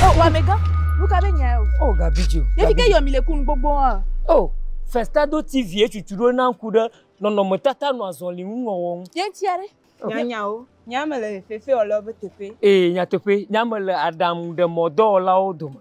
O oh, wamega, nu ka be nya ye o? O oh, Gabidio. Yefi ke yɔmi le kun gbogbo hã. O oh, Festado TV etutu ɖo na ŋku ɖe nɔnɔmetata nɔ azɔli ŋu wɔwɔ ŋu. Ye ŋuti aɖe. Nyanyawo. Nyame le fefe wɔlawo be teƒe. Ee, nyateƒe. Nyame le aɖaŋu ɖe mɔdɔwɔlawo dome.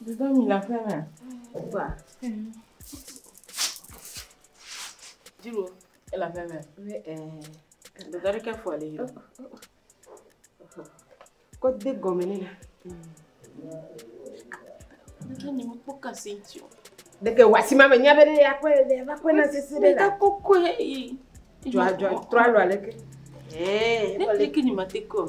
Dodom yina aƒe me. Kpɔa. Dziwo ele aƒe me. Dada ɖeke fɔ le yio. Kɔ de gɔme ne la. Deke ni mo kpɔ kasi ntio. Deke wasi ma me nyabe ne ya kɔ le ya va kɔ na sisi de la. Deke koko yi. Jwa jwa tralo aleke. Eh, ne deke ni ma te ko.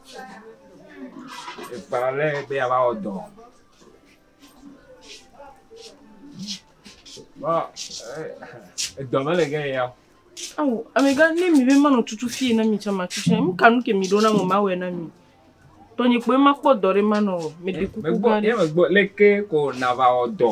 Ekpa ale be yeava wɔ dɔ. Vɔ eh, edɔ mele ge ya o. Awo, amegã ne mi be manɔ tutu fie na mi tsɛ matsu tsɛ. Nu ka nu ke mi ɖo na ŋɔ mawɔe na mi. Tɔnye kpoe makpɔ dɔ ɖe manɔ o. Meɖe kuku gã ɖe. Megbɔ, ye megbɔ leke ko nava wɔ dɔ.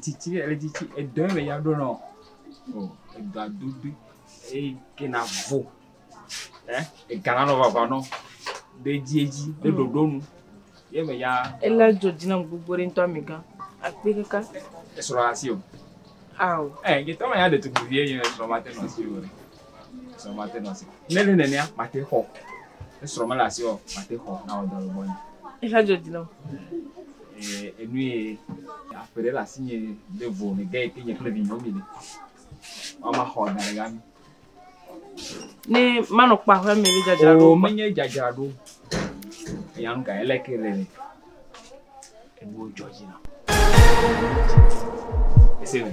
Tsitsi ɖe le tsitsi edɔ ye me ya ɖo nɔ o edɔa dodo eye ke na vo ɛ ega na nɔ vava nɔ ɖe dzi edzi ɖe ɖoɖo nu ye me ya. Ele dzo dzi na gbogbo ɖe ŋutɔ mi gã akpi kaka. Esrɔ asi o. Ao. Ɛ ye tɔ ma ya ɖetugbuvi ye ye esrɔ ma te nɔ asi o. Esrɔ̃ mate nɔ asi. Ne le nenea, mate xɔ. Esrɔ̃ mele asi o, mate xɔ na wò dɔle gbɔnye. Exa dzo dzi nɔ. Ee, enu ye aƒe ɖe le asi nye de vo ne ge ke nye kple vinyewo mi le. Mama xɔ da ɖe gami. Ne manɔ kpa ƒe me le dzadzra ɖo. O menye dzadzra ɖo. Eya nu ka ele ke le le. Enu dzɔ dzi na. Ese me.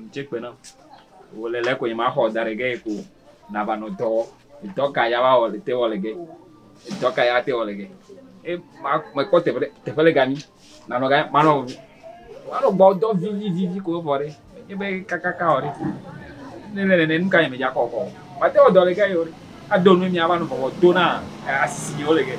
Ŋutsɛkpe nam. Wòle le ko nye ma xɔ da ɖe ge ko nava nɔ dɔ wɔ. Dɔ ka ya wa wɔ le te wɔ le ge? Dɔ ka ya te wɔ le ge? E ma me kpɔ teƒe teƒe le gami. Na nɔ ga ma nɔ wa nɔ gbɔ dɔ vivi vivi ko vɔ ɖe. Nye be kakaka wɔ ɖe. Ne le ne nuka nye me ja kɔ kɔ. Ma te wɔ dɔ le ge yo. A do nu mi ava nɔ bɔbɔ do na asi yo le ge.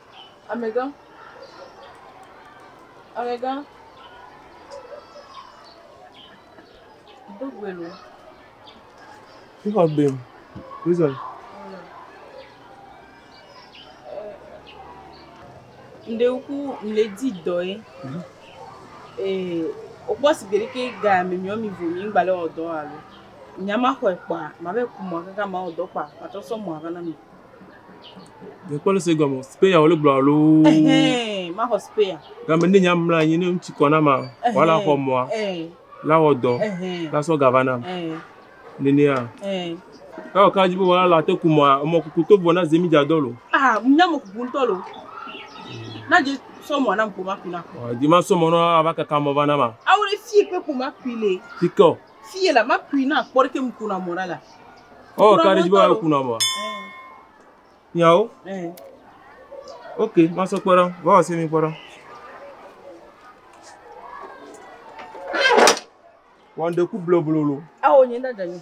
Amegã, amegã, do gbe lo. Wíxɔ gbe o. Wízɔ. Ŋɖe ku mle di dɔ ye. Ee, wokpɔ si gbe ɖeke ga mi miɔ mi vo mi ŋgba le wɔ dɔ alo. Nyama xɔe kpa, ma ve ku mɔ kaka ma wɔ dɔ kpa, ma trɔ sɔ mɔ ava na mi. Mekpɔ nu si gɔme speya wole gblɔ alo. Ɛhɛn, maxɔ speya. Game ne nya mla anyi ne ŋutsu kɔ na ma, wala xɔ mɔa, la wɔ dɔ, la sɔ ga va nam. Nenea. Ewɔ ka dzi be wala la te ku mɔa, emɔ kuku to vɔ na ze mi dza dɔ lo. Ah, mi nya mɔ kuku ŋutɔ lo. Na dze sɔ mɔa na ŋku ma ku na. Dze ma sɔ mɔ na ava kaka mɔ va na ma. Awo le fi ekpe ku ma ku le. Fi kɔ. Fi yɛ la ma kui na kpɔ ɖeke mu kuna mɔ ɖa la. Oh, ka ɖe dzi bɔ kuna mɔ. Nyawo. Ok, ma sɔ kpɔ ɖa. Wa wɔ se mi kpɔ ɖa. Wa ŋdɔ ku bloblolo. Awo nyi nda dani.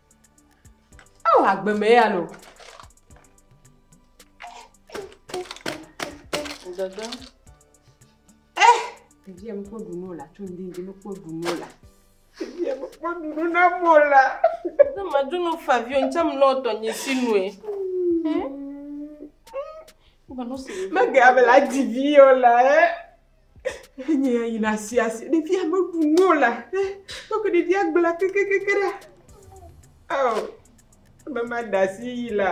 Ao agbe me ya lo. Dada. Eh, ɖevi ya mekpɔ ɖunu o la, tso ŋdindi mekpɔ ɖunu o la. Ɖevi ya mekpɔ ɖunu na mo la. Ne madu nu favi o, ntsam lɔ tɔ nye si nue. Mege abela divi o la, eh. Enye ya yina asi asi. Ɖevia meɖu nu o la. Kpɔ ke ɖevia gbla kekekeke ɖa. Ao, be made asi yi la.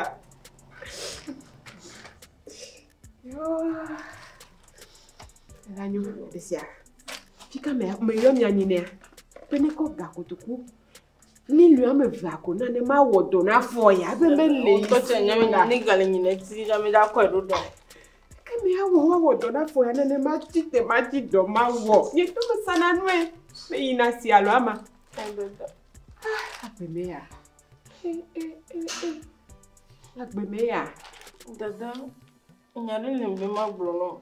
Elanyo ɖe sia. Fika mea, meyɔ mia nyi nɛa? Be nekɔ ga kotoku Million ame evea ko na ne mawɔ dɔ na fɔ ya. Ebe mele yi Tɔ tse nyɛ mi la. ne gale nyi ne ti na mi da kɔe ɖo dɔ. Ke mi awɔ woawɔ dɔ na fɔ ya ne ne ma ti te ma ti dɔ ma wɔ. Nye to me sana nue. Me yi na si alo ama. Ebe dɔ. Ah, agbe me ya. Eh, eh, eh, eh. Agbe me ya. Dada, nya ɖe le be ma gblɔ nɔ.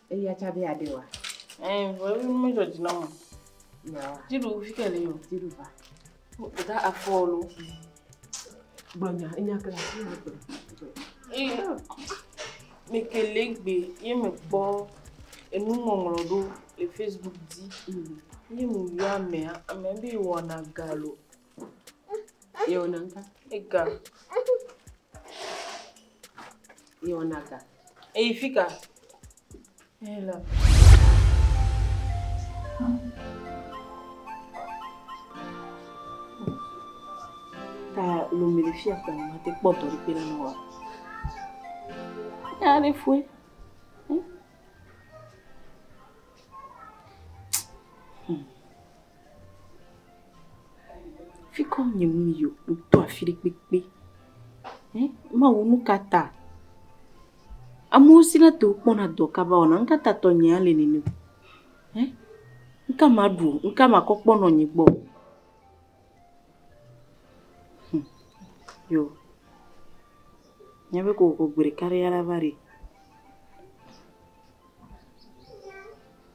Eya tsa be aɖe wa. Eh, vɔ ebi nu medzɔ dzi nɔm o. Yawa. Dziɖu fi ke li o. Dziɖu va. Ɖeka afɔ lo. Gblɔnya enya kle asi na gbe. Ee, mekele gbe ye mekpɔ enuŋɔŋlɔ ɖo le Facebook dzi. Mm. Ye meyɔ amea, amea be wɔna galo. Yewɔna ŋka. Ega. Yewɔna ga. Eyi fi ka? Eyi la. Ta lomi le fia kpɔ ma te kpɔ dɔri kpe la nɔ wa. Ya le fue. Hmm. Fi ka wò nyem yi o, meto afi ɖe kpekpe. Eh, Mawu nu ka ta? Amewo sina te wokpɔna dɔ kaba wɔna, nu ka ta tɔnyea le nene? Eh, nu ka maɖu o, nu ka makɔ kpɔ nɔnye gbɔ o? Hm, yo, nyabe kokoko gbe ɖeka ɖe ya la va ɖi.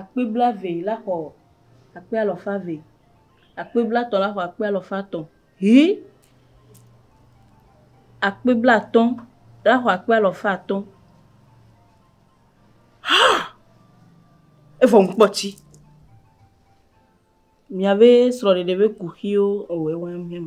Akpe blaeve la xɔ akpe alafa eve. Akpe blatɔ̃ la xɔ akpe alafa tɔ̃. Hii. Akpe blatɔ̃ la xɔ akpe alafa atɔ̃. Haa! Evɔ ŋkpɔ tsi. Miabe srɔ̃ɖeɖe ƒe kuxiwo ewɔɛ wã ŋ hɛn.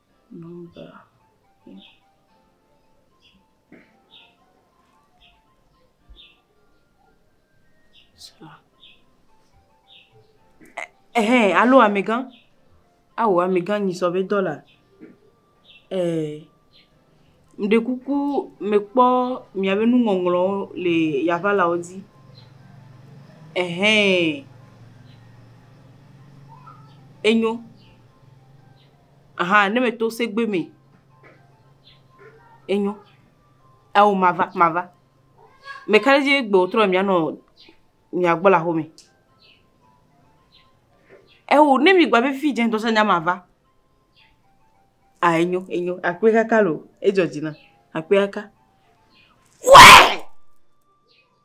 Ɛhɛn, alo amegã, ao amegã nyisɔ be dɔla, ɛɛ, meɖe kuku mekpɔ miabe nuŋɔŋlɔwo le Yaŋalawo dzi, ɛhɛn, enyo. Aha ne me to segbe me. Enyo. Ao mava mava. Me ka ɖe dzi egbe wò trɔ mia nɔ mia gbɔ le aƒe me. Eo ne mi gba be fi dze ŋdɔ sa nya mava. Ah enyo enyo akpe kaka lo. Edzɔ dzi nam. Akpe kaka. Wee!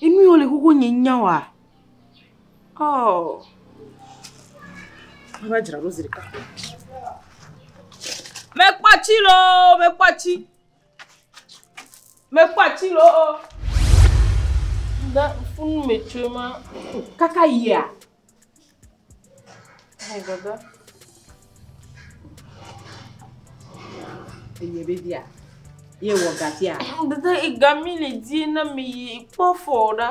Enu yi wole xoxo nye nya oa? Oh. Meva dzra ɖo zi ɖeka. Mekpɔ atsi loo, mekpɔ atsi. Mekpɔ atsi loo. Da funu me tsoe ma. Kaka yia. Enye be bia. Ye wɔ gatia. Dede igami le di na mi yi kpɔ fɔ ɖa.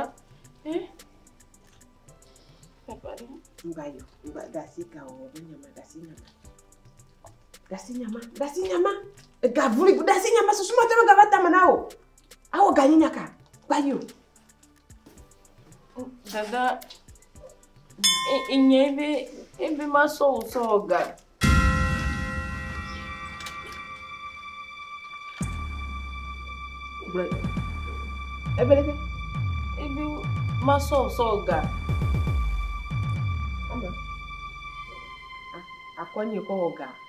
Eh? Nga yo, nga gasi ka o, be nyama gasi nyama. Gasi nyama, gasi nyama. Ega vuli, gasi nyama susuma tama gava tama na o. Awo ganyi nyaka. Ba yo. Dada, inye be ebe masɔ wò sɔ wɔ ga. Ebe ɖe? Ebe masɔ wò sɔ wɔ ga. Akɔ nye kɔ wɔ ga.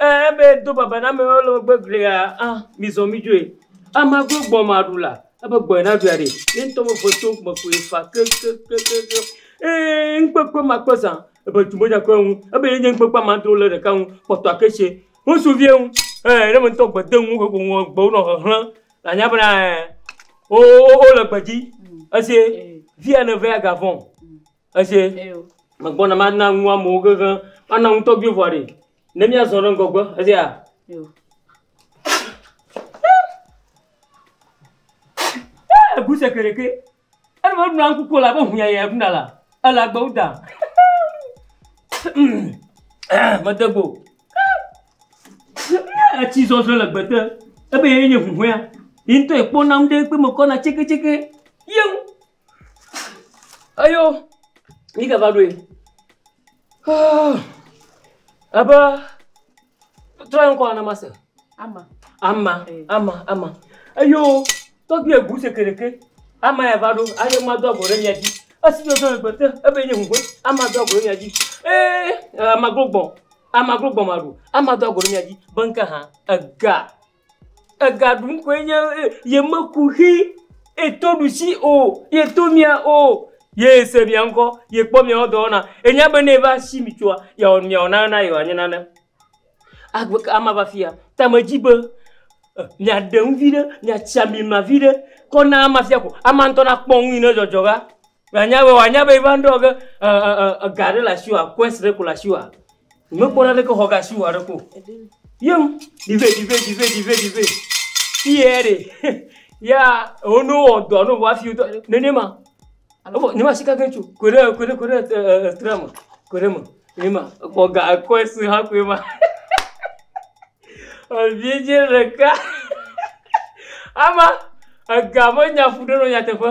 Eya be do baba na amewo le megbe glia, a mizɔ midzoe. Amea gblɔ gbɔ ma ɖu la, ebe gbɔe na ɖui aɖe. Ye ŋutɔ be ʋe to me koe fa kekekekekeŋ. Eye ŋukpekpe ma kpe zã ebe tu medza kpɔe ŋu. Ebe ye nye ŋukpekpe ma dro le ɖeka ŋu kpɔtɔa ke tse ŋutsuvie ŋu. Ɛɛ ne me ŋutɔ gbe de ŋu ƒoƒo ŋu gbewo nɔ hehlem la nya bena ɛɛ wo wo le gbe dzi. Esie via ne vea ga vɔ̃. Esie megbɔna mana nu amewo kekeŋ. Mana nu tɔgbi vɔ ɖi ne míazɔ ɖe ŋgɔgbe. Esia. Egu seke ɖeke. Enu me ɖuna ŋku ko la be huya ya ɖuna la. Ele agbewo da. Mede gbo. Etsi zɔzɔ le gbete. Ebe ye nye huhɔea. Yi ŋutɔ ekpɔna nu ɖe kpe mekɔna tseketseke. Yeŋ. Eyo yi ke va ɖoe. Haa ebe trɔe ŋkɔ na mase. Ama. Ama. Ama. Ama. Eyo tɔgbi egu sekereke. Ama ya va ɖo. Ayo ma do agbo ɖe mia dzi. Esi do do gbete ebe nye ŋugbe. Ama do agbo ɖe mia dzi. Ee ama glo gbɔ. Ama glo gbɔ ma ɖo. Ama do agbo ɖe mia dzi. Be ŋke ha ega. Ega ɖum koe nye ye. Ye meku xi ye to ɖusi o. Ye to mia o. Ye se mia ŋkɔ. Ye kpɔ miawo dɔwɔna. Enya be ne eva si mi tsoa, yeawɔ nu miawɔ nane na ye wòanye nane. Agbe ka ame ava afia? Ta medzi be miaɖe nu viɖe, miatsi ami ma viɖe kɔ na amea fia ko. Amea ŋutɔ nakpɔ nu yi ne dzɔdzɔ va. Wòanya be, wòanya be va ŋɖɔ ge ɛ, ɛ, ɛ, ega aɖe le asiwòa, quest ɖe ko le asiwòa. Mekpɔ naneke xɔ ge asiwò aɖeke o. Yeŋ, dive, dive, dive, dive, dive. Fiyɛ ɖe, ya, wo ne wowɔ dɔ ne wòa fiwotɔ, nene ma. Wovɔ, ne ma sika ge tso, koe ɖe, koe ɖe, koe ɖe, ɛ, ɛ, ɛ, trea me, koe ɖe me. Nene ma, xɔ ga quest hã koe ma. Evidzɛ ɖeka. Ama, ega me nya ƒu ɖe nɔ nyateƒe.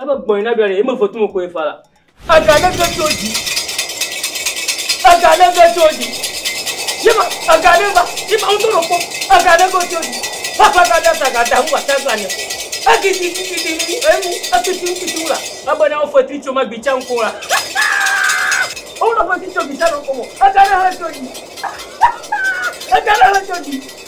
Ebe gbɔ̃ yi nabiɔ ɖe, emevo tumo koe fa la. Ega ne ve tso dzi. Ega ne ve tso dzi. Yema, ega ne va, yema ŋutɔ ɖo kpɔ, ega ne go tso dzi. Fakla ga da sa ga da hu wa ta gla ne. Egi di di di di ni ni enu, etu ti ŋutu ti wula. Ebe ne wo fetri tso ma gbi tsa ŋko la. Wo na fetri tso gbi tsa ŋko mo. Ega ne he tso dzi. Ega ne he tso dzi.